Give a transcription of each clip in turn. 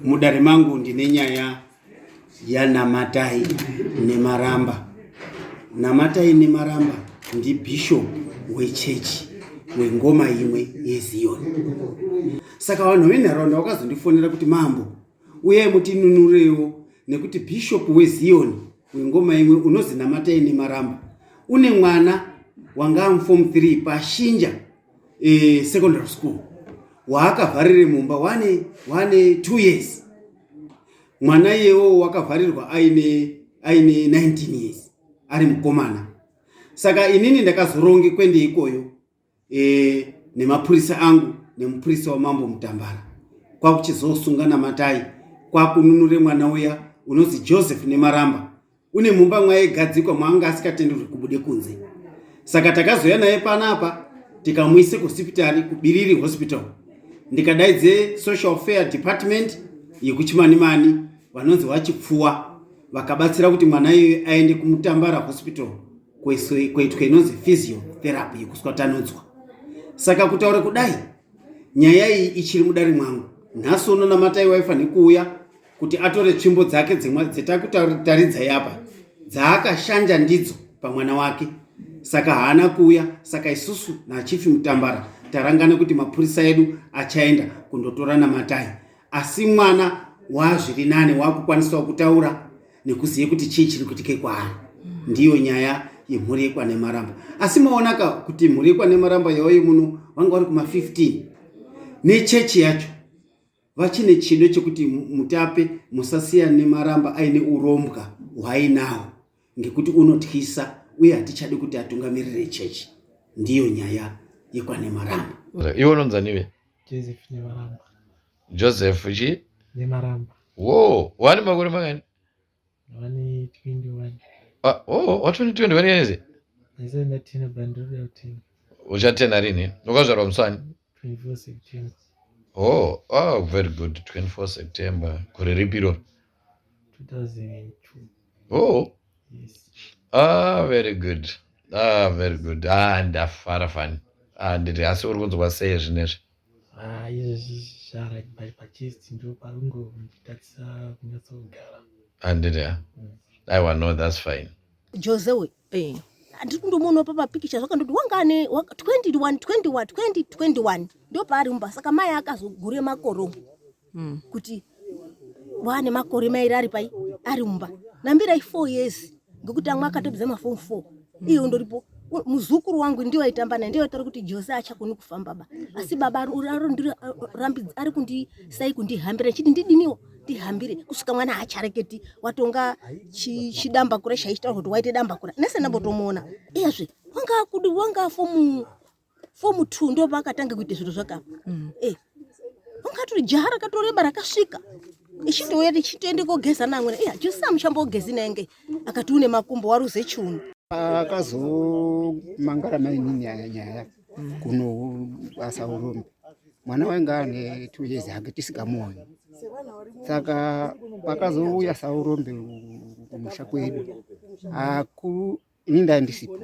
Mudare mangu ndine nyaya yaNamatai Nemaramba. Namatai Nemaramba ndibishop wechechi wengoma imwe yeZion. Saka vanhu venharaunda vakazondifonera kuti mambo uyai mutinunurewo nekuti bishop weZion wengoma imwe unozi Namatai Nemaramba une mwana wanga amuform 3 pashinja e, secondary school waakavharire mumba wane wane two years mwana iyewo wakavharirwa aine aine 19 years ari mukomana saka inini ndakazoronge kwende ikoyo e, nemapurisa angu nemupurisa wamambo mutambara kwakuchizosunga namatai kwakununure mwana uya unonzi joseph nemaramba une mumba mwaigadzikwa mwaanga asikatenderwi kubude kunze saka takazouya naye panapa tikamuise kuhosipitari kubiriri hospital ndikadaidze social fair department yekuchimanimani vanonzi vachipfuwa vakabatsira kuti mwana iyoyo aende kumutambara hospital kwaitwa inonzi physiotherapy yekuswatanudzwa saka kutaura kudai nyaya iyi ichiri mudare mwangu nhasi unonamataiwaifanhe kuuya kuti atore tsvimbo dzake dzimwe dzetakutaridza yapa dzaakashanja ndidzo pamwana wake saka haana kuuya saka isusu nachifi mutambara tarangana kuti mapurisa edu achaenda kundotora namatai asi mwana wazviri nane wakukwanisawo kutaura nekuzive kuti chii chiri kuitike kwaari ndiyo nyaya yemhuri yekwanemaramba asi maonaka kuti mhuri yekwanemaramba yaoye muno vanga vari kuma 15 nechechi yacho vachine chido chekuti mutape musasiya nemaramba aine urombwa hwainawo ngekuti unotyisa uye hatichadi kuti atungamirire chechi ndiyo nyaya yekwane maramba iwe unonzanive joseph chi nemaramba wo wani makore makani Ah, oh, watoni 21 years uchatena rini wakazvarwa musani oh, oh, very good 24 september gore ripi iroro oh. yes. ah, very good ah, very good ah, ndafara fani ah, ndiri asi uri kunzwa sei zvinezvi Ah, izvezvi zvara pai pachest ndo parungonditadzisa kunyatsogara handiti ah, mm. aiwa no thats fine jose we eh, handiri kundomuonawo pamapikicha zvakandoti wanga ane 21 21 2021 ndo paari mumba saka mai akazogure makoromo mm. kuti wane makore mairi ari pai ari mumba nambirai four years ngekuti amwe akatopedza mafom four mm. iyo ndoripo muzukuru wangu ndiwo aitamba naye ndiwo aitaura kuti jose achakoni kufamba ba asi baba ari kundi sai kundihambira chiti ndidiniwo ndihambire kusvika mwana haachareketi watonga chidamba kure chaitaura kuti waite damba kure nese ndambotomuona iyazve wanga akudi wanga afomu fomu two ndo vakatanga kuita zviro zvakapa mm. eh, ungatori jaha rakatoreba rakasvika ichitouya tichitoende kogeza namwena iya jose amuchambogezi naenge akati une makumbo waruze chiuno akazomangara mainini nyaya kuno basa urombe mwana wainge ane two years hake tisikamuoni saka pakazouya saurombe kumusha kwedu ini ndaya ndisipo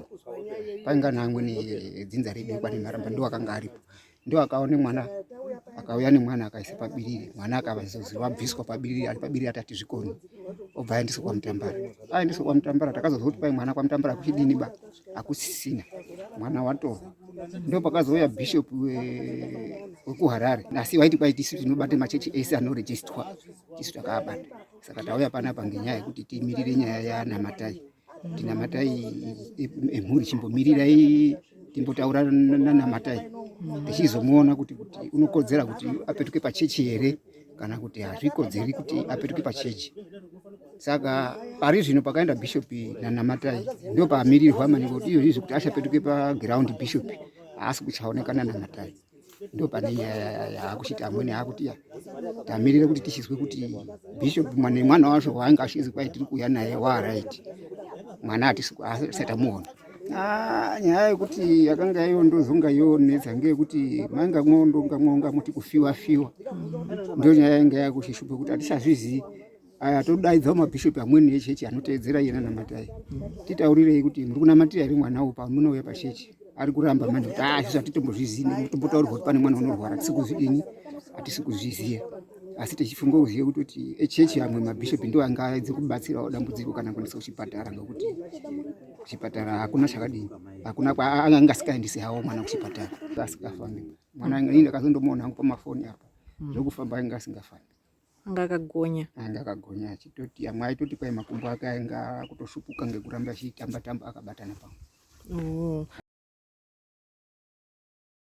painga nangwe nedzinza redu kwani maramba ndo akanga aripo ndo akaone mwana akauya nemwana akaisa pabiriri mwana akavazozi vabviswa pabiriri ari pabiriri atati zvikoni obva aendeswa kwamutambara aendeswa kwamutambara takazozwa kuti pai mwana kwamutambara kuchidini ba akusisina mwana watorwa ndo pakazouya bishop wekuharare asi vaiti kwai tisu tinobate machechi ese anorejistwa tisu takaabata saka tauya panapa ngenyaya yekuti timirire nyaya yanamatai Tinamatai emhuri chimbomirirai timbotaura nanamatai tichizomuona kuti kuti unokodzera kuti apetuke pachechi here kana kuti hazvikodzeri kuti apetuke pachechi saka pari zvino pakaenda bishopi nanamatai ndo pamirirwa maningi kuti izvozvi zvekuti achapetuke pagiraundi bishopi haasi kuchaonekana namatai ndopane yaakuchiti amwene aakuti ya tamirire kuti tichizwe kuti bishop mwana mwana wacho waanga achizi kwai tiri kuuya naye waaright mwana atisatamuona ah, nyaya yekuti yakanga iyo ndozonga yonetsa ngeyekuti mainga mwondonga mwonga muti kufiwa fiwa ndo nyaya yanga yakuchishupa kuti hatichazvizivi aya todaidzawo mabhishopi amweni echechi anoteedzera iye nanamatai titaurirei kuti muri kunamatira here mwana uwo pamunouya pachechi ari kuramba manje kuti ah izvi hatitombozvizivi nekuti tombotaurirwa kuti pane mwana unorwara hatisi kuzvidini hatisi kuzviziva asi tichifunga kuziva kuti kuti echechi amwe mabhishopi ndo anga aedze kubatsirawo dambudziko kana kuendesa kuchipatara ngekuti kuchipatara hakuna chakadini hakuna kwaanga asikaendisi hawo mwana kuchipatara asingafambi mwana ini ndakazondomuona hangu pamafoni apa zvokufamba anga asingafambi anga akagonya anga akagonya achitoti amwe aitoti kwai makumbo ake ainga kutoshupuka ngekuramba achitamba tamba akabatana pamwe oh.